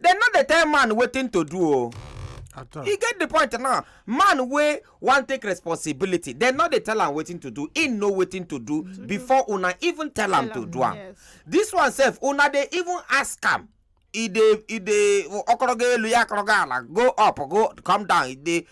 dem no dey tell man wetin to do o at all. e get the point now man wey wan take responsibility dem no dey tell am wetin to do he know wetin to do before una even tell am to do am Yes. this one sef una dey even ask am e dey e dey ọkọrọga elu ya akọrọga ala go up go come down e dey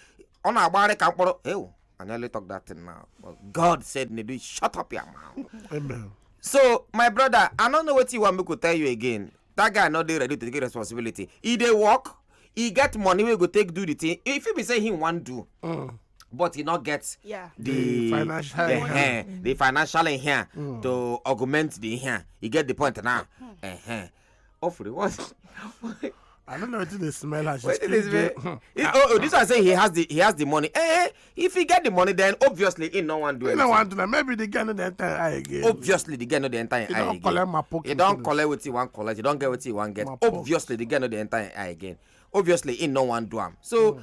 ọ na-agbagharị ka mkpụrụ ewu I nearly talk that thing now but God said Nedu shut up your mouth Amen. so my brother I no know wetin you wan make we tell you again that guy no dey ready to take responsibility e dey work e get money wey go take do the thing e fit be say he wan do mm. but he no get yeah. the, the financial uh, uh, the financial in here mm. to augment the here you get the point now mm. uh -huh. Offrey, what I don't know what they smell as she speak. Smell? Hmm. oh, oh, this one say he has the he has the money. Eh, eh if he get the money then obviously he no wan do anything. he no wan do na maybe the guy no dey enter him eye again. obviously the guy no dey enter him eye again. he don collect my pocket. he don collect wetin he wan collect he don get wetin he wan get obviously the guy no dey enter him eye again obviously he no wan do am so. Mm.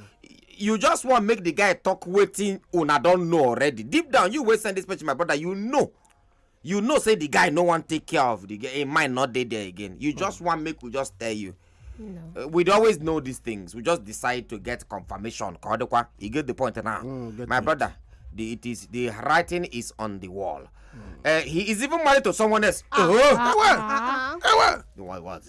you just wan make the guy talk wetin una don know already deep down you wey send this picture my brother you know you know say the guy no wan take care of the girl him mind no dey there again you just wan make we just tell you Uh, we dey always know these things we just decide to get confirmation ka ọ dịkwa you get the point now Mm, get my it. brother the it is the writing is on the wall uh, he is even married to someone else oh Ah, ah, ah. the one was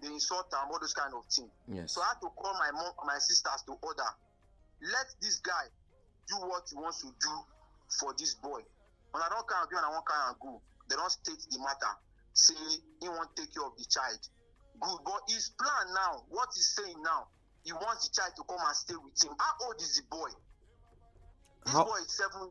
dey insult am all those kind of thing yes. so i had to call my mom my sisters to order let this guy do what he wants to do for this boy when i don carry am go and i wan carry am go they don state the matter say he wan take care of the child good but his plan now what he saying now he wants the child to come and stay with him how old is the boy this how, boy is seven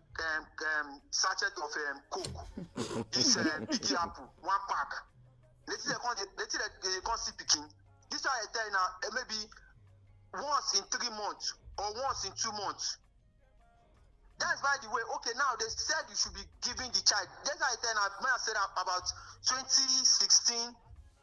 um, um, sachet of um, coke this um, big apple one pack later they come dey later they dey come see pikin this one i tell you now eh, maybe once in three months or once in two months that's by the way okay now they said you should be giving the child that's why i tell you now when i said that about twenty sixteen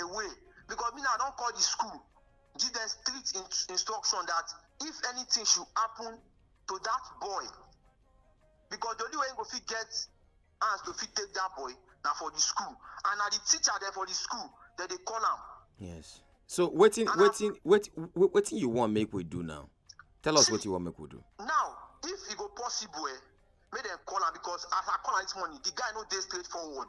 away because me now don call the school give them strict in instruction that if anything should happen to that boy because the only way he go fit get hands to fit take that boy na for the school and na the teacher dem for the school dem dey call am. yes so wetin wetin wetin wetin you wan make we do now tell us wetin you wan make we do. now if e go possible eh make dem call am because as i call am this morning the guy no dey straightforward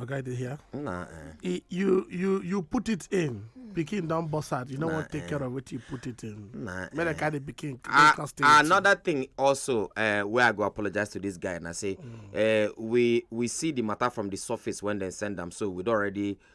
Okay, they hear? Nah. Eh. you you you put it in. Pikin don burst out. You no nah, wan take eh. care of wetin you put it in. Nah. Make eh. carry the pikin. Uh, ah, another thing also uh, wey I go apologize to this guy and I say mm. uh, we we see the matter from the surface when dem send am so we don already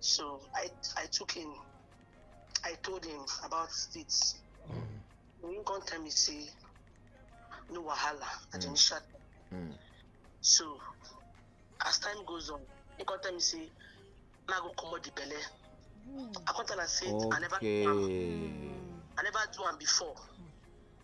So I I took him. I told him about it. Mm. When you come tell me say no wahala at mm. initial. Mm. So as time goes on, he come tell me say na go comot the belle. Mm. I come tell am say okay. I never do am. I never do am before.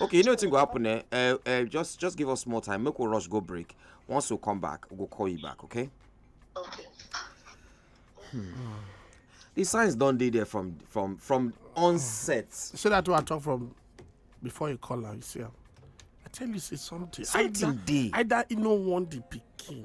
okay you know wetin go happen eh uh, uh, just just give us more time make we rush go break once we come back we go call you back okay. okay. Hmm. the signs don dey there from from from onset. you see that one i talk from before you call am you see am i tell you say something. something dey either either he no want the pikin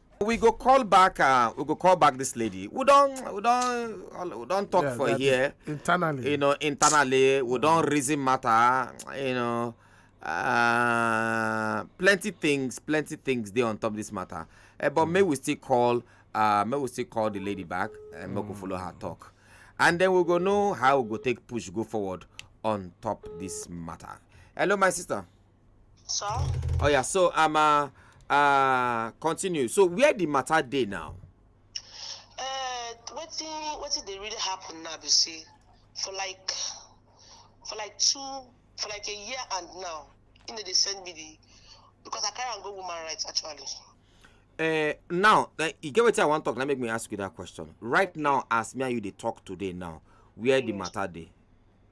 we go call back uh, we go call back this lady we don we don we don talk yeah, for here internally you know internally we don reason matter you know uh, plenty things plenty things dey on top this matter uh, but mm. may we still call uh, may we still call the lady back and eh, mm. make we follow her talk and then we go know how we go take push go forward on top this matter hello my sister. Sir? Oh yeah, so um uh, uh continue. So where the matter day now? Uh what did they really happen now you see? For like for like two for like a year and now, you know they send me the because I can't go woman rights actually. Uh, now, uh, you get what I want to talk. Let me make me ask you that question. Right now, as me and you they talk today now, where the matter day?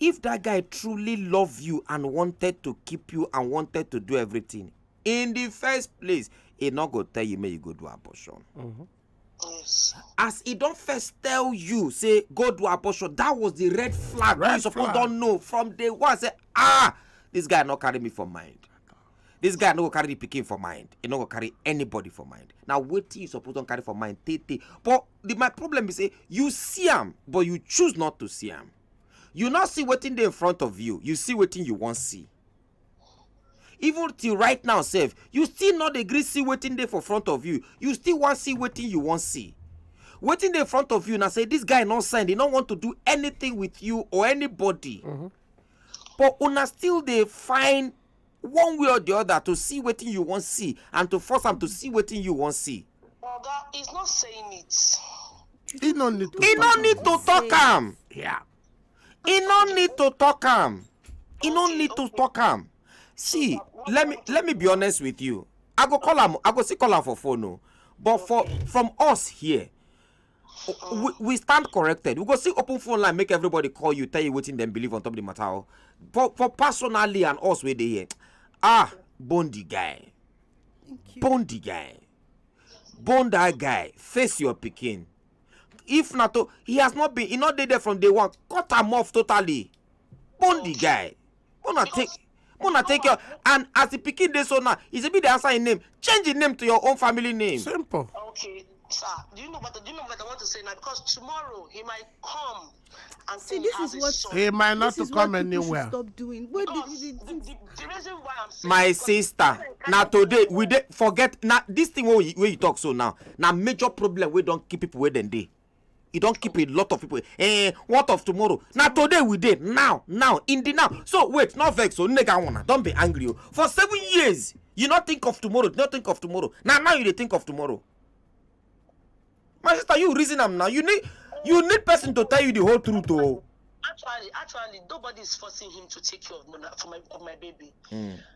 If that guy truly love you and wanted to keep you and wanted to do everything, in the first place, he not go tell you may you go do abortion. Mm -hmm. Yes. As he don't first tell you, say go do abortion, that was the red flag. Red you suppose don't know from day one. Say ah, this guy not carry me for mind. This guy no go carry the picking for mind. He no go carry anybody for mind. Now wait you suppose don't carry for mind. Tete. But the, my problem is say you see him, but you choose not to see him. you no see wetin dey in front of you you see wetin you wan see even till right now sef you still no dey gree see wetin dey for front of you you still wan see wetin you wan see wetin dey in front of you na say this guy no send he no want to do anything with you or anybody but una still dey find one way or the other to see wetin you wan see and to force am to see wetin you wan see. oga he's not saying it. he no need to he no need to talk am. Yeah. he no need to talk am. he no need to talk am. see let me let me be honest with you i go call am i go still call am for phone o oh. but for from us here we, we stand corrected we go still open phone line make everybody call you tell you wetin dem believe on top the matter o oh. for for personally and us wey dey here ah bone the guy bone the guy bone that guy face your pikin if na to he has not been he no dey there from day one cut am off totally bone the guy una take una take care and as the pikin dey so now e be dey answer im name change im name to your own family name. simple. okay sir do you know what do you know what i want to say now because tomorrow he might come and see this is what son. he might not to come anywhere. stop doing what because the, the, the, the reason why i'm saying. my sister na today we dey forget na this thing wey you, wey you talk so now na major problem wey don keep people wey dem dey. e don keep a lot of people eh what of tomorrow na today we dey now now in the now so wait no vex o nega una don be angry o for seven years you no think of tomorrow no think of tomorrow na now you dey think of tomorrow my sister you reason am now you need you need person to tell you the whole truth o. Oh. actually actually nobody is forcing him to take care of my, of my baby. Mm.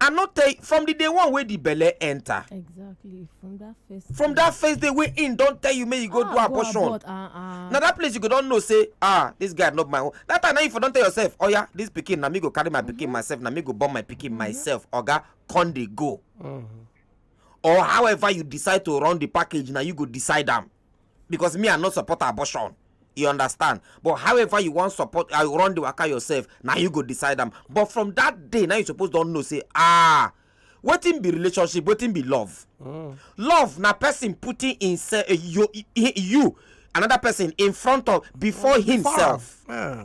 I no tell you from the day one wey the belle enter. Exactly. From that first. From that first day wey him don tell you make you go ah, do abortion. Go abort, uh, uh. Na that place you go don know say ah this guy not my own. That time now you for don tell yourself oh yeah this pikin na me go carry my mm -hmm. pikin mm-hmm. myself na me go born my pikin mm -hmm. myself oga come dey go. Mm -hmm. Or however you decide to run the package na you go decide am. because me i no support abortion you understand but however you wan support i run the waka yourself na you go decide am but from that day na you suppose don know say ah wetin be relationship wetin be love mm. love na person putting himself uh, you, you another person in front of before mm, himself yeah.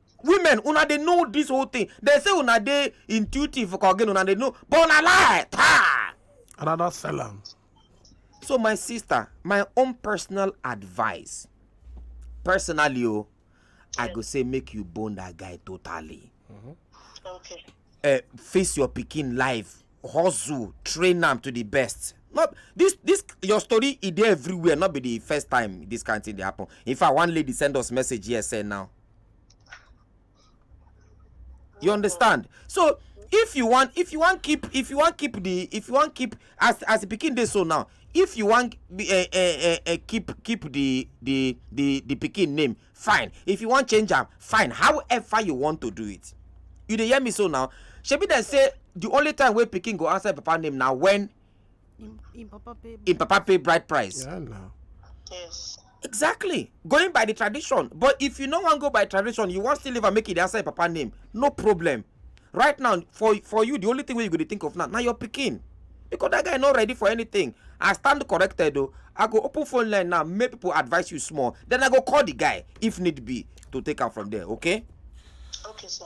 women una dey know this whole thing dem say una dey intuitive for again una dey know but una lie taa another sell am so my sister my own personal advice personally o i go say make you bone that guy totally Okay. uh, face your pikin life hustle train am to the best not this this your story e dey everywhere not be the first time this kind thing dey happen in fact one lady send us message here say now you understand so if you want if you want keep if you want keep the if you want keep as as the pikin dey so now if you want uh, uh, uh, uh, keep keep the the the the pikin name fine if you want change am fine however you want to do it you dey hear me so now shebi dem say the only time wey pikin go answer papa name na when Im, Im Papa pay bride. Im Papa pay bride price. Yeah, no. Yes. Exactly. Going by the tradition. But if you no wan go by tradition, you wan still live and make it the outside Papa name. No problem. Right now, for for you, the only thing wey you go dey think of now, na your pikin. Because that guy no ready for anything. I stand corrected though. I go open phone line now, make people advise you small. Then I go call the guy if need be to take am from there, okay? Okay, sir.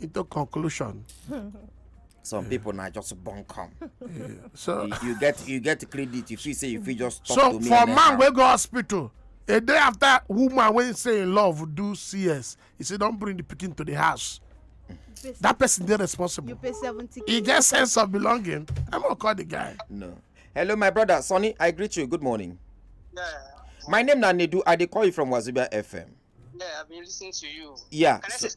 into conclusion. some people now just born come. Yeah. so you, you, get you get credit if you say if you just talk so to me. so for man we go hospital a day after woman wey say in love do cs he say don't bring the pikin to the house that person dey responsible you pay seventy k he get sense of belonging i'm gonna call the guy. no hello my brother sonny i greet you good morning. Yeah. my name na nedu i dey call you from wazobia fm. yeah i been listening to you. yeah. Can so, I say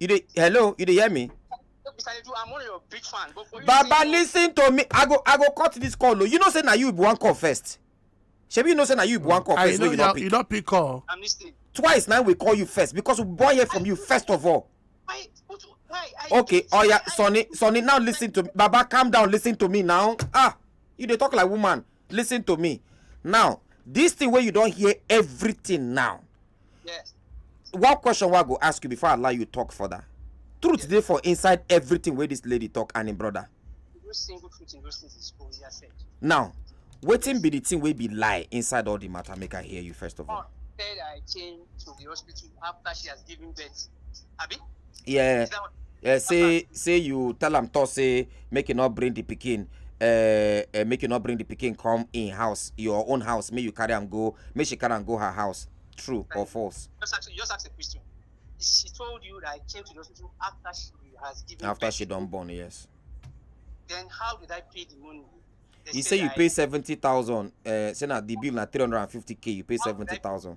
you dey hello you dey hear me baba listen to me i go i go cut this call o you know say na you be one call first shebi you know say na you be one call first wey you no pick you no pick call twice now we call you first because we born here from you first of all okay oya sonny sonny now listen to me baba calm down listen to me now ah you dey talk like woman listen to me now this thing wey you don hear everything now yes one question wey i go ask you before i allow you talk further truth dey for inside everything wey this lady talk and im brother no single truth in those things is own ya said now wetin be the thing wey be lie inside all the matter make i hear you first of all mom said i came to the hospital after she has given birth abi yeah yeah say say you tell am talk say make you not bring the pikin uh, uh, make you not bring the pikin come in house your own house make you carry am go make she carry am go her house true or false. just ask just ask a question she told you that i came to the hospital after she has given after birth. she don born yes. then how did i pay the money. They you say, say you I, pay seventy thousand uh, say na the bill na three hundred and fifty k you pay seventy thousand.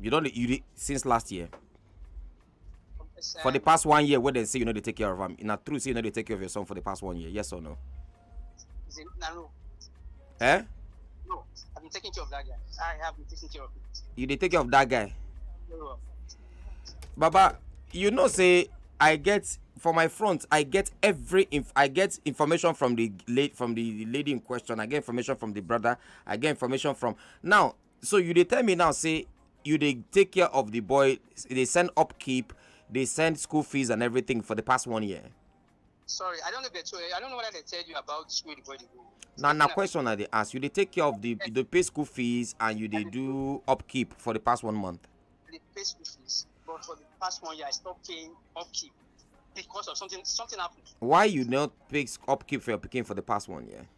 you don you dey since last year for the past one year wey dem say you no dey take care of am na true say you no dey take care of your son for the past one year yes or no. is it na no. eh. no i been taking care of that guy i have been taking care of him. you dey take care of that guy. No. baba you know say i get for my front i get every inf i get information from the late from the lady in question i get information from the brother i get information from now so you dey tell me now say you dey take care of the boy dey send upkeep dey send school fees and everything for the past one year sorry i don't know the i don't know what they tell you about school the boy dey go na na question i dey ask you dey take care of the you dey pay school fees and you dey do upkeep for the past one month dey pay school fees but for the past one year i stop paying upkeep because of something something happened. why you not pay upkeep for your pikin for the past one year.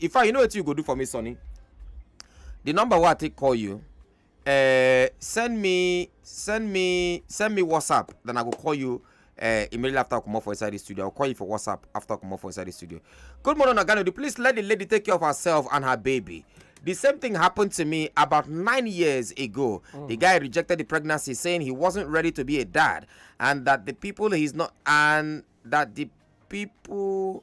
in fact you know wetin you go do for me sonny the number wey i take call you uh, send me send me send me whatsapp then i go call you uh, immediately after I come off for inside the studio. I'll call you for WhatsApp after I come off for inside the studio. Good morning, Oganodi. Please let the lady take care of herself and her baby. The same thing happened to me about nine years ago. Mm. The guy rejected the pregnancy, saying he wasn't ready to be a dad, and that the people he's not, and that the people